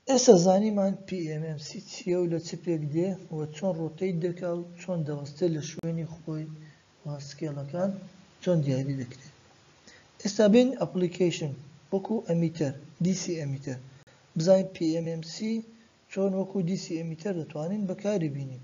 ئێستا زانیمان PMMC چییە و لە چ پێک دێ و چۆن ڕۆتەیت دەکا و چۆن دەوەستێت لە شوێنی خۆی و سکێڵەکان چۆن دیاری دەکرێت ئێستا بین ئەپلیکەیشن وەکو ئەمیتەر DC ئەمیتەر بزانین PMMC چۆن وەکو DC ئەمیتەر دەتوانین بەکاری بینین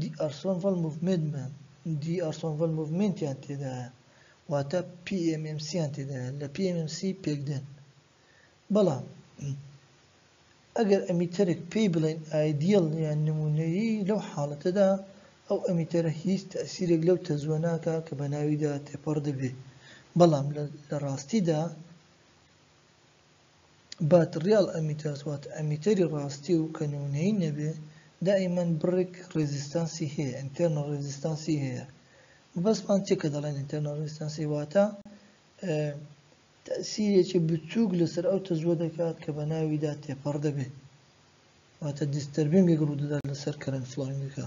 دی ئارسۆن ڤەل موڤمێدمان، دی ئارسۆن ڤەل موڤمێنتیان تێدایە، واتە پی ئێم ئێم سییان تێدایە، لە پی ئێم ئێم سی پێکدێن. بەڵام ئەگەر ئەمیتەرێک پێی بڵێین ئایدیەڵ یان نموونەیی لەو حاڵەتەدا ئەو ئەمیتەرە هیچ تەئسیرێک لەو تەزووە ناکا کە بە ناویدا تێپەڕ دەبێ، بەڵام لە ڕاستیدا، بات ڕیاڵ ئەمیتەرس واتە ئەمیتەری ڕاستی و کە نمونەیی نەبێ دائیمەن بڕێک ڕێزیستانسی هەیە ئینتێرنەڵ ڕێزیستانسی هەیە مەبەستمان چیە کە دەڵێن ئینتێرنەڵ ڕێزیستانسی واتە تەئسیرێکی بچووک لەسەر ئەو تەزووە دەکات کە بە ناویدا تێپەڕ دەبێت واتە دیستەربینگێک ڕوودەدات لەسەر کەرەنت فڵۆینگەکە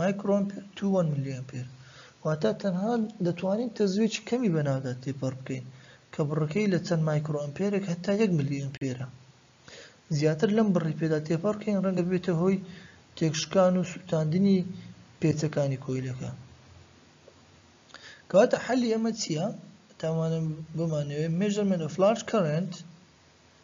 مایکرۆئەمپێر توو وەن ملی ئەمپێر واتە تەنها دەتوانین تەزوێکی کەمی بە ناودا تێپەڕ بکەین کە بڕەکەی لە چەند مایکرۆئەمپێرێک هەتا یەک ملی ئەمپێرە زیاتر لەم بڕی پێدا تێپەڕ بکەین ڕەنگە ببێتە هۆی تێکشکان و سووتاندنی پێچەکانی کۆیلەکە کەواتە حەلی ئەمە چییە تاوانە بمانەوێت مێژەرمێنە فلاش کەرنت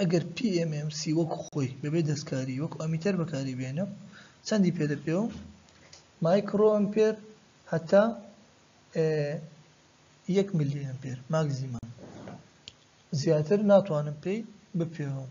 ئەگەر PMMC وەک خۆی بەبێ دەستکاری وەک ئەمیتەر بەکاری بێنێ و چەندی پێ دەپێ و مایکرۆ ئەمپێر هەتا یەک ملی ئەمپێر ماکزیمەم زیاتر ناتوانم پێی بپێوم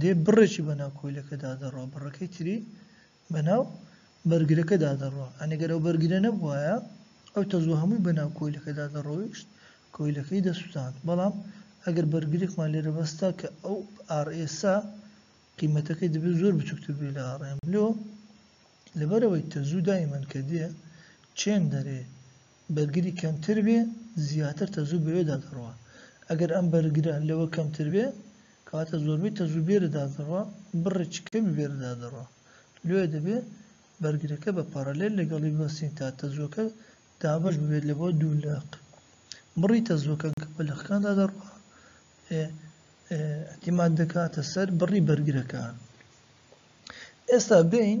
دێ بڕێکی بەناو کۆیلەکەدا دەڕوا بڕەکەی تری بەناو بەرگرەکەدا دەڕوا ئەنێ گەر ئەو بەرگرە نەبوایە ئەو تەزوە هەمووی بەناو کۆیلەکەدا دەڕۆیشت کۆیلەکەی دەسوتاند بەڵام ئەگەر بەرگرێکمان لێرە بەستا کە ئەو ئار ئێسا قیمەتەکەی دەبێت زۆر بچووکتر بێ لە ئاڕێم لۆ لەبەرەوەی تەزوو دایمەن کە دێ چێن دەرێ بەرگری کەمتر بێ زیاتر تەزوو بەوێ دادەڕوا ئەگەر ئەم بەرگرە لەوە کەمتر بێ کەواتە زۆربەی تەزوو بێرە دادەڕوا بڕێکی کەمی بێرە دادەڕوا لۆیە دەبێ بەرگرەکە بە پارالێل لەگەڵی ببەستین تا تەزووەکە دابەش ببێت لە بۆ دوو لەق بڕی تەزووەکە کە بە لەقەکان دادەڕوا اعتماد دەکاتە سەر بڕی بەرگرەکان ئێستا بین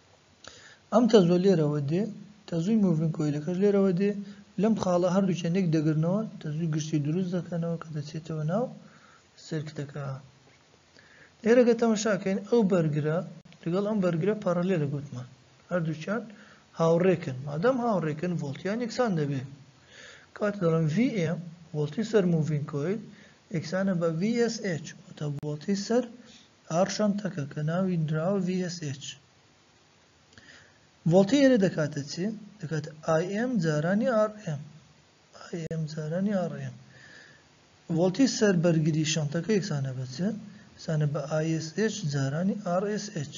ئەم تەزوە لێرەوە دێ، تەزوی مۆڤینگ کۆیلەکەش لێرەوە دێ، لەم خاڵە هەردوکیان یەک دەگرنەوە، تەزوی گشتی دروست دەکەنەوە کە دەچێتەوە ناو سرکتەکە. لێرە گەر تەمەشاکەین ئەو بەرگرە لەگەڵ ئەم بەرگرە پارالێلە گوتمان هەردوکیان هاوڕێکن مادام هاوڕێکن ڤۆڵتیان یەکسان دەبێ کاتە دەڵم VM ڤۆڵتی سەر موڤین کۆیل یەکسانە بە VSH واتە ڤۆڵتی سەر ئاڕشانتەکە کە ناوی نراوە VSH ڤۆڵتی ئێرە دەکاتە چی؟ دەکاتە IM جارانی RM IM جارانی RM ڤۆڵتی سەر بەرگری شانتەکە یەکسانە بە چ؟ یەکسانە بە ISH جارانی RSH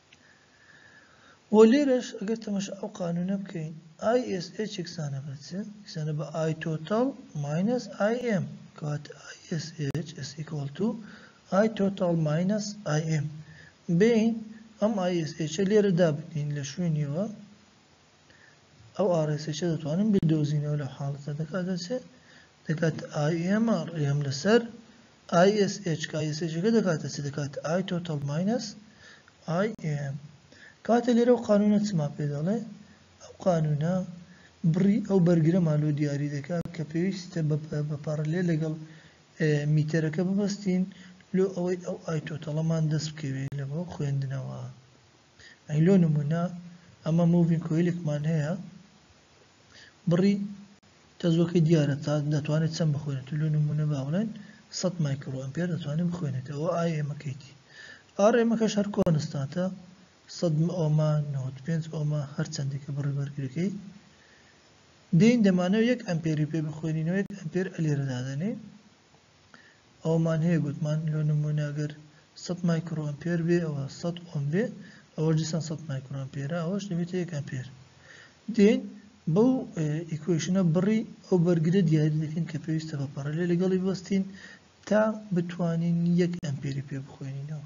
و لێرەش ئەگەر تەماشای ئەو قانوونە بکەین ISH یەکسانە بە چ؟ یەکسانە بە I total minus IM کەواتە ISH is equal to I total minus IM بێین ئەم ISH لێرە دابنێین لە شوێنیەوە ئەو ئاڕێسەیشە دەتوانن بدۆزینەوە لەو حاڵەتە دەکاتە چ دەکات IMR ئێم لەسەر ISH کە ISHەکە دەکاتە چ دەکات I total minus IM کاتێ لێرە و قانونە چما پێ دەڵێ ئەو قانونە بڕی ئەو بەرگرەمان لۆ دیاری دەکات کە پێویستە بە پارلێ لەگەڵ میتەرەکە ببەستین لۆ ئەوەی ئەو ئای تۆتەڵەمان دەست بکەوێت لە بۆ خوێندنەوە. ئەی لۆ نمونە ئەمە مۆڤین کۆیلێکمان هەیە بڕی تەزوەکەی دیارە تا دەتوانێت چەند بخوێنێت لۆ نمونە با بڵێن سەد مایکرۆ ئەمپێر دەتوانێت بخوێنێت ئەوە ئای ئێمەکەیتی ئار ئێمەکەش هەر کۆنستانتە سەد ئۆما نەوەد پێنج ئۆما هەر چەندێکە بڕی بەرگرەکەی دێین دەمانەوە یەک ئەمپێری پێ بخوێنینەوە یەک ئەمپێر ئەلێرە دادەنێین ئەوەمان هەیە گوتمان لۆ نموونە ئەگەر سەد مایکرۆ ئەمپێر بێ ئەوە سەد ئۆم بێ ئەوەش دیسان سەد مایکرۆ ئەمپێرە ئەوەش دەبێتە یەک ئەمپێر دێین بەو ئیکوێشنە بڕی ئەو بەرگرە دیاری دەکەین کە پێویستە بە پەڕەلێ لەگەڵی بەستین تا بتوانین یەک ئەمپێری پێ بخوێنینەوە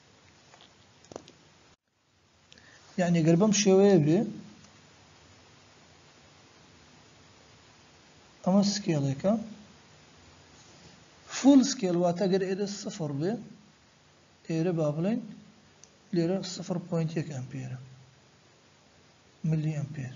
یعنی گەر بەم شێوەیە بێ ئەمە سکێڵێکە فول سکێل واتە گەر ئێرە سفر بێ ئێرە با بڵێن لێرە سفر پوینت یەک ئەمپێرە ملی ئەمپێر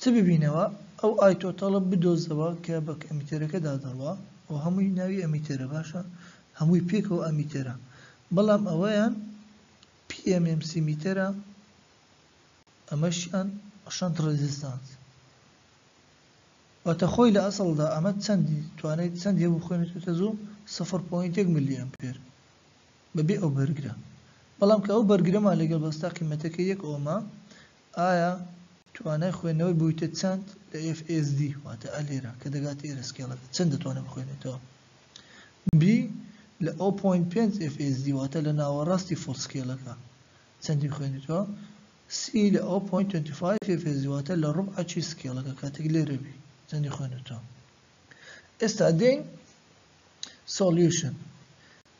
چ ببینەوە ئەو ئایتۆتەڵە بدۆزەوە کە بە ئەمیتێرەکە دادەڕوا و هەمووی ناوی ئەمیتێرە باشە هەمووی پێکەوە ئەمیتێرە بەڵام ئەوەیان پی ئێم ئێم سی میتەرە ئەمەشیان شەنت ڕێزیستانس واتە خۆی لە ئەسڵدا ئەمە چەندی توانای چەند هەیە بخوێنێتێتە زوو سفر پۆینت یەک ملی ئەمپێر بەبێ ئەو بەرگرە بەڵام کە ئەو بەرگرەمان لەگەڵ بەستا قیمەتەکە یەک ئۆمە ئایا توانای خوێندنەوەی بوویتە چەند لە FSD واتە ئە لێرە کە دەگاتە ئێرە سکێڵەکە چەند دەتوانێت بخوێنێتەوە؟ B لە ئەو پۆینت پێنج FSD واتە لە ناوەڕاستی فوڵ سکێڵەکە چەندی بخوێنێتەوە؟ C لە ئەو پۆینت توێنتی فایڤ FSD واتە لە ڕوبعەکی سکێڵەکە کاتێک لێرە بی چەندی خوێنێتەوە؟ ئێستا دێین سۆلیوشن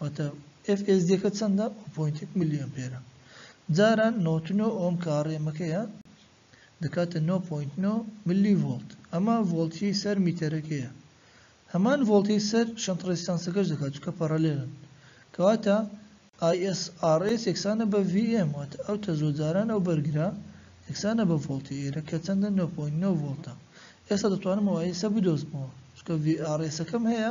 واتە FSDەکە چەندە؟ ئەو پۆینت یەک ملی ئەمپێرە جاران نۆت نۆ ئۆم کە ڕێمەکەیە دەکاتە نۆ پۆینت نۆ ملی ڤۆڵت ئەمە ڤۆڵتی سەر میتەرەکەیە هەمان ڤۆڵتی سەر شەنت ڕێستانسەکەش دەکات چکە پەڕەلێنن کەواتە ISRS یەکسانە بە VM واتە ئەو تەزۆ جاران ئەو بەرگرا یەکسانە بە ڤۆڵتی ئێرە کە چەندە 9.9 ڤۆڵتە ئێستا دەتوانم ئەو ئایسە بدۆزمەوە چکە VRSەکەم هەیە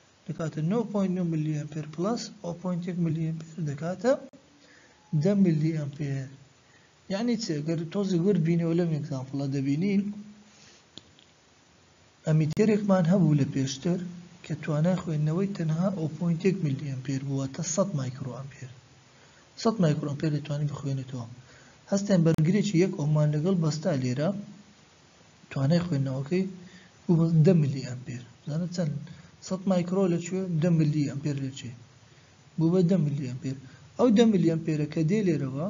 دەکاتە نۆ پۆینت نۆ ملی ئەمپێر پڵەس ئەو پۆینتێک ملی ئەمپێر دەکاتە دە ملی ئەمپێر یعنی چ گەر تۆزی ورد بینەوە لەم ئەگزامپڵە دەبینین ئەمیتێرێکمان هەبوو لە پێشتر کە توانای خوێندنەوەی تەنها ئەو پۆینتێک ملی ئەمپێر بووە تا 100 مایکرۆ ئەمپێر 100 مایکرۆ ئەمپێر دەتوانین بخوێنێتەوە هەستێن بەرگرێکی یەک ئۆمان لەگەڵ بەستا لێرە توانای خوێندنەوەکەی گوگڵ دە ملی ئەمپێر بزانە چەند سەد مایکرۆ لە کوێ دە ملی ئەمپێر لە چێ بوو بە دە ملی ئەمپێر ئەو دە ملی ئەمپێرە کە دێ لێرەوە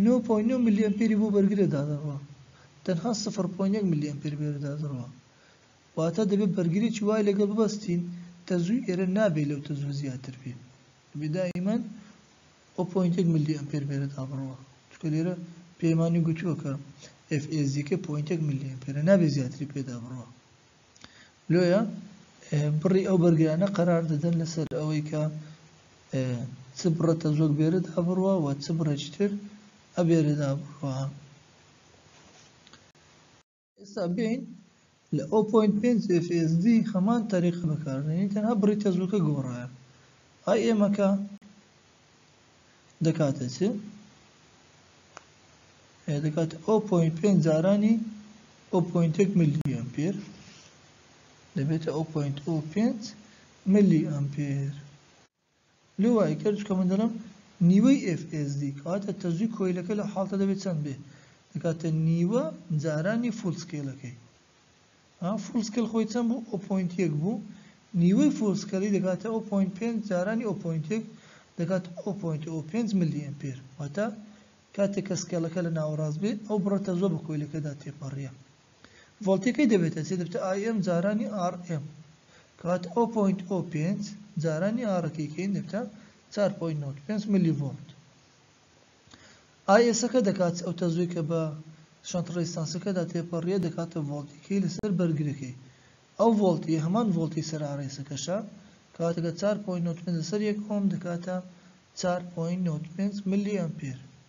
9.9 ملی ئەمپێری بۆ بەرگرە دادەڕوە تەنها 0.1 ملی ئەمپێر بێرە دادەڕوە واتە دەبێت بەرگرێکی وای لەگەڵ ببەستین تەزووی ئێرە نابێت لەو تەزووە زیاتر بێت بێ دائیمەن ئەو پۆینت یەک ملی ئەمپێر بێرە تا بڕوا چونکە لێرە پێمانی گوتووە کە ئێف ئێزیەکەی پۆینت یەک ملی ئەمپێرە نابێ زیاتری پێدا بڕوا لۆیە بڕی ئەو بەرگرانە قەرار دەدەن لەسەر ئەوەی کە چ بڕە تەزۆک بێرە دا بڕوا و چ بڕێکی تر ئەبێرە دا بڕوا ئێستا بێین لە ئەو پۆینت پێنج FSD هەمان تەریقە بەکاربێنین تەنها بڕی تەزووکە گۆڕایە ئای ئێمەکە دەکاتە چ دەکات ئەو پۆینت پێنج جارانی ئەو پۆینتێک ملی ئەمپێر دەبێتە ئەو پۆینت ئەو پێنج ملی ئەمپێر لۆ وای کرد چونکە من دەڵێم نیوەی ئێف ئێس دی کەواتە تەزووی کۆیلەکە لەو حاڵتە دەبێت چەند بێ دەکاتە نیوە جارانی فوڵ سکێلەکەی ها فوڵ سکێل خۆی چەند بوو ئەو پۆینت یەک بوو نیوەی فوڵ سکێلی دەکاتە ئەو پۆینت پێنج جارانی ئەو پۆینت یەک دەکات ئەو پۆینت ئەو پێنج ملی ئەمپێر واتە کاتێک کە سکێڵەکە لە ناوەڕاست بێ ئەو بڕە تەزووە بە کۆیلەکەدا تێپەڕیە ڤۆڵتەکەی دەبێتە سێ دەبێتە ئای ئێم جارانی ئاڕ ئێم. کەواتە ئەو پۆینت ئۆ پێنج جارانی ئاڕەکەی کەین دەبێتە چوار پۆینت نۆد پێنج ملی ڤۆڵت. ئای ئێسەکە دەکات ئەو تەزووی کە بە شەنت ڕێزیستانسەکەدا تێپەڕیە دەکاتە ڤۆڵتی کەی لەسەر بەرگرەکەی. ئەو ڤۆڵتی یە هەمان ڤۆڵتی سەر ئاڕ ئێسەکەشە. کەواتە کە چوار پۆینت نۆد پێنج لەسەر یەک ئۆم دەکاتە چوار پۆینت نۆد پێنج ملی ئەمپێر.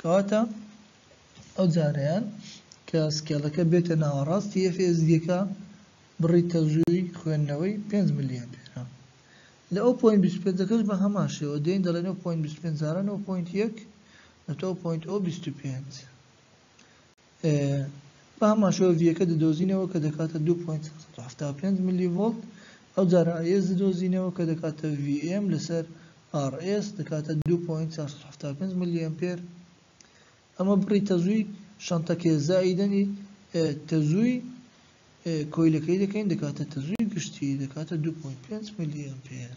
کەواتە ئەو جارەیان کە سکێڵەکە بێتە ناوەڕاستی ئێف ئێس دیەکە بڕی تەوژووی خوێندنەوەی پێنج ملی ئەمپێرە لە ئەو پۆینت بیست و پێنجەکەش بە هەمان شێوە دێین دەڵێن ئەو پۆینت بیست و پێنج جارە نۆ پۆینت یەک ئەتۆ پۆینت ئۆ بیست و پێنج بە هەمان شێوە ڤیەکە دەدۆزینەوە کە دەکاتە دوو پۆینت سەد و حەفتا و پێنج ملی ڤۆڵت، ئەوجار ئای ئێس دەدۆزینەوە کە دەکاتە ڤی ئێم لەسەر ئاڕ ئێس دەکاتە دوو پۆینت چوار سەد و حەفتا و پێنج ملی ئەمپێر، ئەمە بڕی تەزووی شەنتەکەیە زائیدەنی تەزووی کۆیلەکەی دەکەین دەکاتە تەزووی گشتی دەکاتە دوو پۆینت پێنج ملی ئەمپێر.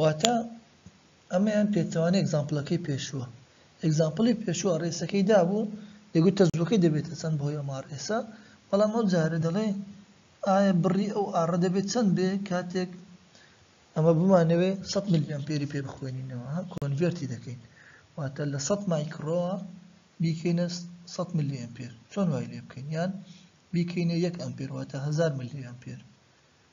واتە ئەمەیان پێچەوانەی ئەگزامپڵەکەی پێشووە ئەگزامپڵی پێشووە ڕێسەکەی دابوو دەگوت تەزووەکەی دەبێتە چەند بەهۆی ئەم ئاڕێسە بەڵام ئەو جارە دەڵێ ئایا بڕی ئەو ئاڕە دەبێت چەند بێ کاتێک ئەمە بمانەوێ 100 میلی ئەمپێری پێ بخوێنینەوە کۆنڤێرتی دەکەین واتە لە 100 مایکرۆوە بیکەینە 100 میلی ئەمپێر چۆن وای لێ بکەین یان بیکەینە یەک ئەمپێر واتە 1000 میلی ئەمپێر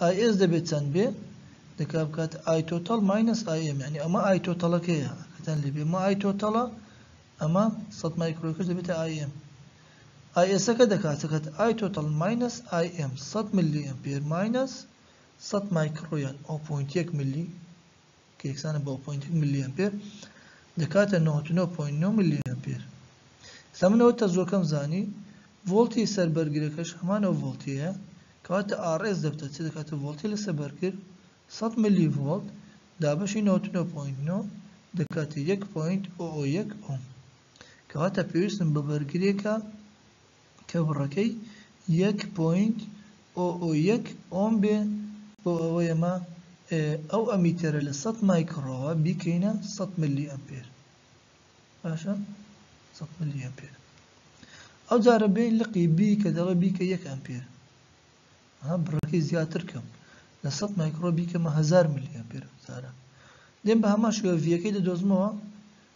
ئای ئێس دەبێت چەند بێ؟ دەکا بکات ئای تۆتەڵ ماینەس ئای ئێم یعنی ئەمە ئای تۆتەڵەکەیە کەتان لێ بێ ئەمە ئای تۆتەڵە ئەمە سەد مایکرۆیکش دەبێتە ئای ئێم ئای ئێسەکە دەکات چەکەت ئای تۆتەڵ ماینەس ئای ئێم سەد ملی ئەمپێر ماینەس سەد مایکرۆیان ئەو پوینت یەک ملی کە یەکسانە بە پۆینت ملی ئەمپێر دەکاتە نەوەد و نۆ پۆینت نۆ ملی ئەمپێر ئێستا من ئەوە تەزووەکەم زانی ڤۆڵتی سەر بەرگرەکەش هەمان ئەو ڤۆڵتیەیە کەواتە ئاڕێس دەبتە چ دەکاتە ڤۆڵتی لەسەر بەرگر سەد ملی ڤۆڵت دابەشی نەوەد و نۆ پۆینت نۆ دەکاتە یەک پۆینت ئۆ ئۆ یەک ئۆم کەواتە پێویستم بە بەرگرێکە کە بڕەکەی یەک پۆینت ئۆ ئۆ یەک ئۆم بێ بۆ ئەوەی ئەمە ئەو ئەمیتەرە لە سەد مایکڕۆوە بیکەینە سەد ملی ئەمپێر باشە سەد ملی ئەمپێر ئەو جارە بین لقی بی کە دەڵێ بیکە یەک ئەمپێر ها بڕەکەی زیاتر کەم لە سەد مایکڕۆ بیکەمە هەزار ملی ئەمپێر ئەو جارە دێم بە هەمان شێوە ڤیەکەی دەدۆزمەوە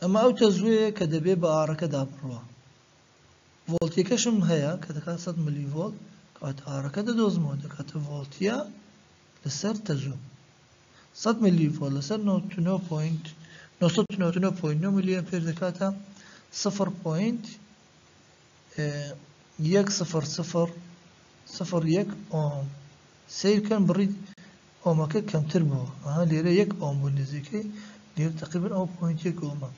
ئەمە ئەو تەزووەیە کە دەبێ بە ئاڕەکەدا بڕوا. ڤۆڵتیەکەشم هەیە کە دەکات سەد ملی ڤۆڵت، کەواتە ئاڕەکە دەدۆزمەوە دەکاتە ڤۆڵتیە لەسەر تەزوو. سەد ملی ڤۆڵت لەسەر نەوەد و نۆ پۆینت نۆ سەد و نەوەد و نۆ پۆینت نۆ ملی ئەمپێر دەکاتە سفر پۆینت یەک سفر سفر سفر یەک ئۆم سەیر کەن بڕی ئۆمەکە کەمتر بووە ئەها لێرە یەک ئۆم بوو نزیکەی لێرە تقریبا ئەو پوینت یەک ئۆمە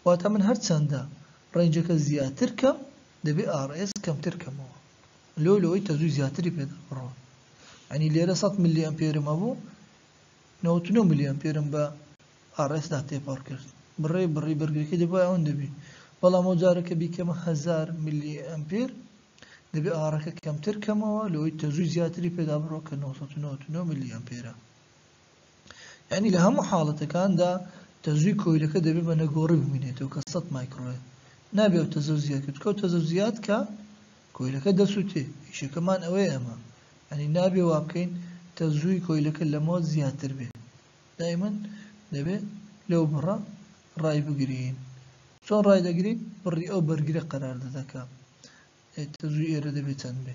واتە من هەرچەندە ڕێنجەکە زیاتر کەم دەبێ ئاڕئێس کەمتر کەمەوە لۆ لەوەی تەزووی زیاتری پێدا بڕۆن ئەنی لێرە 100 ملی ئەمپێرم هەبوو 99 ملی ئەمپێرم بە ئاڕێسدا تێپەڕ کرد. بڕێ بڕی بەرگەکەی دەبوایە ئەوەندە بێ، بەڵام ئەو جارە کە بیکەمە هەزار ملی ئەمپێر، دەبێ ئاڕەکە کەمتر کەمەوە لەوەی تەزووی زیاتری پێدا بڕۆ کە نۆ سەد و نەوەد و نۆ ملی ئەمپێرە. یانی لە هەموو حاڵەتەکاندا تەزووی کۆیلەکە دەبێ بە نەگۆڕی بمینێتەوە کە سەد مایکرۆیە. نابێ ئەو تەزە زیاد کرد، چکە ئەو تەزە زیاد کا کۆیلەکە دەسووتێ. ئیشەکەمان ئەوەیە ئەمە. یانی نابێ وابکەین تەزووی کۆیلەکە لەمەوە زیاتر بێ. دایمەن دەبێ لەو بڕە ڕای بگرین چۆن ڕای دەگرین بڕی ئەو بەرگرە قەرار دەدەکە تەزوی ئێرە دەبێ چەند بێ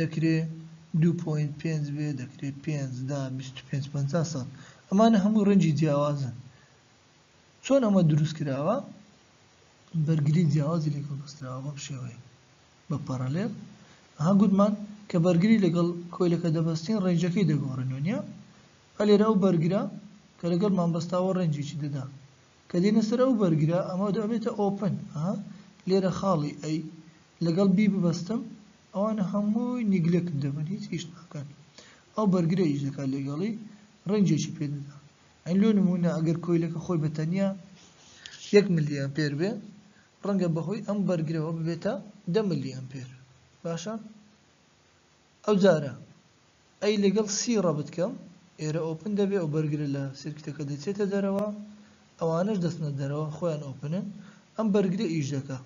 دەکرێ دوو پۆینت پێنج بێ دەکرێ پێنج دە بیست و پێنج پەنجا سەد ئەمانە هەمووی ڕەنجی جیاوازن چۆن ئەمە دروست کراوە بەرگری جیاوازی لەگەڵ بەستراوە بەم شێوەیە بە پەڕەلێل ها گوتمان کە بەرگری لەگەڵ کۆیلەکە دەبەستین ڕێنجەکەی دەگۆڕێنەوە نیە ئە لێرە ئەو بەرگرە کە لەگەڵ مامبەستاوە ڕێنجێکی دەدا کە دێنە سەر ئەو بەرگرە ئەمە دەبێتە ئۆپن ها لێرە خاڵی ئەی لەگەڵ بی ببەستم ئەوانە هەمووی نیگلێکت دەبن هیچ ئیش ناکەن ئەو بەرگرە ئیش دەکات لەگەڵی ڕینجێکی پێ دەدا ئەی لۆ نموونە ئەگەر کۆیلەکە خۆی بە تەنیا یەک ملی ئەمپێر بێ ڕەنگە بەهۆی ئەم بەرگرەوە ببێتە دە ملی ئەمپێر باشە ئەو جارە ئەی لەگەڵ سی ڕەبت کەم ئێرە ئۆپن دەبێ ئەو بەرگرە لە سرکتەکە دەچێتە دەرەوە ئەوانش دەستنە دەرەوە خۆیان ئۆپنن ئەم بەرگرە ئیش دەکە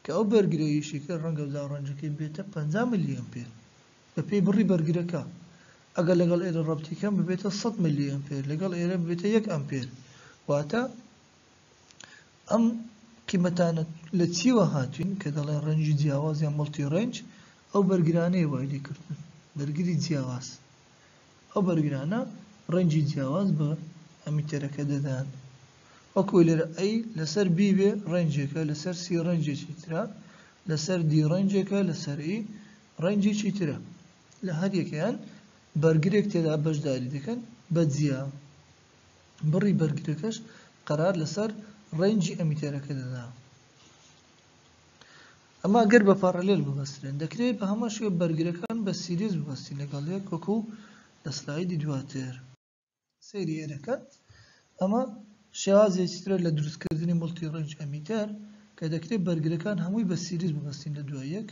کە ئەو بەرگرەیشی کە ڕەنگە زاڵ ڕەنجەکەی بێتە پەنجا ملی ئەمپێر بە پێی بڕی بەرگرەکە ئەگەر لەگەڵ ئێرە ڕەبتی کەم ببێتە سەد ملی ئەمپێر لەگەڵ ئێرە ببێتە یەک ئەمپێر واتە ئەم قیمەتانە لە چیوە هاتوین کە دەڵێن ڕەنجی جیاواز یان مڵتی ڕەنج ئەو بەرگرانەیە وای لێکردن بەرگری جیاواز ئەو بەرگرانە ڕەنگی جیاواز بە ئەمیتەرەکە دەدەن. وەکو لێرە A لەسەر B بێ ڕەنگێکە، لەسەر C ڕەنگێکی ترە، لەسەر D ڕەنگێکە، لەسەر E ڕەنگێکی ترە. لە هەر یەکەیان بەرگرێک تێدا بەشداری دەکەن بە جیا. بڕی بەرگرەکەش قەرار لەسەر ڕەنگی ئەمیتەرەکە دەدا. ئەمە گەر بە پارالێل ببەسترێن دەکرێت بە هەمان شێوە بەرگرەکان بە سیریز ببەستین لەگەڵ یەک وەکو لە سلایدی دواتر سەیری ئێرەکە ئەمە شێوازێکی ترە لە دروستکردنی مڵتی ڕێنج ئەمیتەر کە دەکرێت بەرگرەکان هەمووی بە سیریز ببەستین لە دوای یەک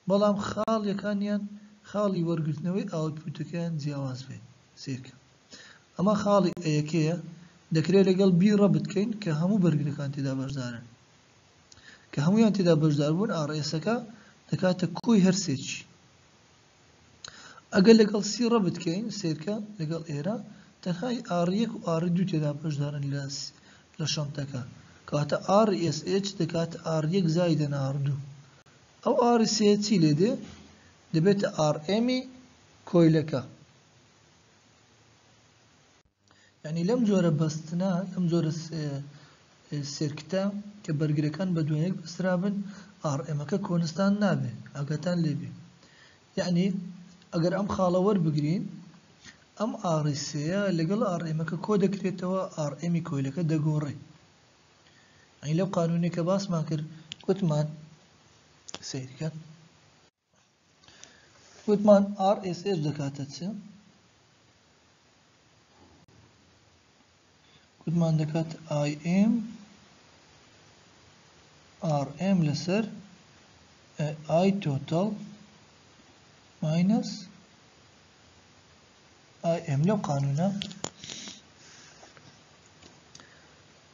بەڵام خاڵیەکانیان خاڵی وەرگرتنەوەی ئاوتپوتەکەیان جیاواز بێت سێکە ئەمە خاڵی ئەیەکەیە دەکرێت لەگەڵ بی ڕەبتکەین کە هەموو بەرگرەکان تێدا بەشدارن کە هەموویان تێدا بەشداربوون ئاڕئێسەکە دەکاتە کۆی هەر سێکی. ئەگەر لەگەڵ سی ڕە بتکەین سێرکە لەگەڵ ئێرە تەنها ی ئاڕ یەک و ئاڕ دوو تێدا بەشدارن لە لە شەنتەکە کەواتە ئاڕ ئێس ئێچ دەکاتە ئاڕ یەک زایدەن ئاڕ دوو ئەو ئاڕ سێ چی لێ دێ دەبێتە ئاڕ ئێمی کۆیلەکە. یانی لەم جۆرە بەستنە، لەم جۆرە سێرکتە کە بەرگرەکان بە دوایەک بەسترابن، ئاڕئێمەکە کۆنستانت نابێ، ئاگاتان لێ بێ. یانی ئەگەر ئەم خاڵە وەربگرین، ئەم ئاڕی سێیە لەگەڵ ئاڕئێمەکە کۆ دەکرێتەوە، ئاڕئێمی کۆیلەکە دەگۆڕێ. یانی لەو قانوونەی کە باسمان کرد، گوتمان، سەیرکەن، وتمان RSH دەکاتە چ؟ وتمان دەکات IM RM لەسەر I total minus IM لەو قانونە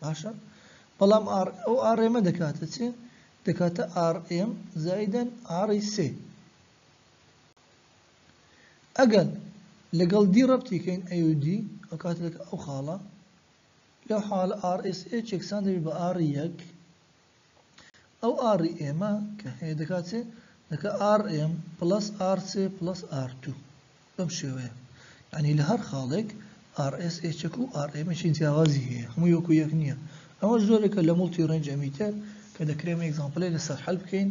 باشە بەڵام ئاڕ ئەو ئاڕێمە دەکاتە چێ دەکاتە ئاڕ ئێم زایدەن ئاڕی سێ ئەگەر لەگەڵ دی ڕەبتی کەین ئەیودی ئەو کاتێک ئەو خاڵە لەو حاڵە ئاڕ ئێس ئێ چێکسان دەبێت بە ئاڕی یەک ئەو ئاڕی ئێمە کە هەیە دەکا چێ؟ دەکا ئاڕ ئێم پڵەس ئاڕ سێ پڵەس ئاڕ دوو. بەم شێوەیە. یانی لە هەر خاڵێک ئاڕ ئێس ئێچەک و ئاڕ ئێمێکی جیاوازی هەیە. هەمووی وەکوو یەک نییە. ئەمەش جۆرێکە لە موڵتی ڕێنج ئەمیتەر کە دەکرێ ئەمە ئێگزامپڵێ لەسەر حەل بکەین.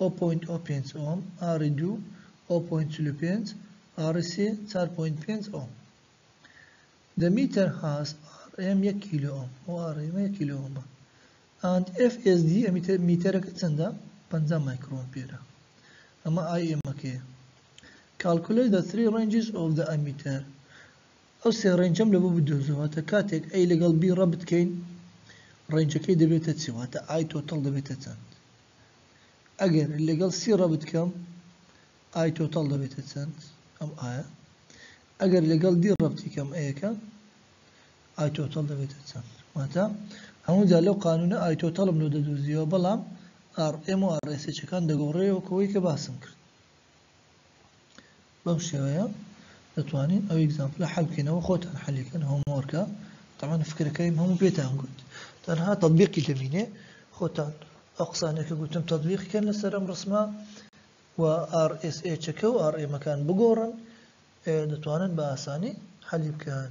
ئۆ پۆینت ئۆ پێنج ئۆم ئاڕی دوو ئۆ پۆینت چل و پێنج ئاڕی سێ چار پۆینت پێنج ئۆم دە میتەر هاس ئاڕ ئێم یەک کیلۆ ئۆم ئۆ ئاڕ ئێمە یەک کیلۆ ئۆمە ئاند ئێف ئێس دی ئەمیتەر میتەرەکە چەندە پەنجا مایکرۆن پێرە ئەمە ئای ئێمەکەیە کالکولەی دە تری ڕێنجز ئۆف دە ئەمیتەر ئەو سێ ڕێنجەم لە بۆ بدۆزەوە تا کاتێک ئەی لەگەڵ بی ڕەبت کەین ڕێنجەکەی دەبێتە چی واتە ئای تۆتەڵ دەبێتە چەند ئەگەر لەگەڵ سی ڕەبت کەم ئای تۆتاڵ دەبێتە چەند ئەم ئایە ئەگەر لەگەڵ دی ڕەبتی کەم ئەیەکە ئای تۆتاڵ دەبێتە چەند واتە هەمووجا لەو قانونە ئای تۆتاڵم لۆ دەدوزیەوە بەڵام ئاڕ ئێم و ئاڕێسێچەکان دەگۆڕێەوە کەوەی کە باسم کرد بەم شێوەیە دەتوانین ئەو ئیگزامپلە حەل بکەینەوە خۆتان حەلی کەن هۆمۆرکە تەمان فکرەکەیم هەموو پێتان گوت تەنها تەطبیقی دەبینێ خۆتان ئەو قسانێک کە گوتم تەطبیقی کەن لەسەر ئەم ڕسمە و RSH کە و RM کان بگۆڕن دەتوانن بە ئاسانی حەلی بکەن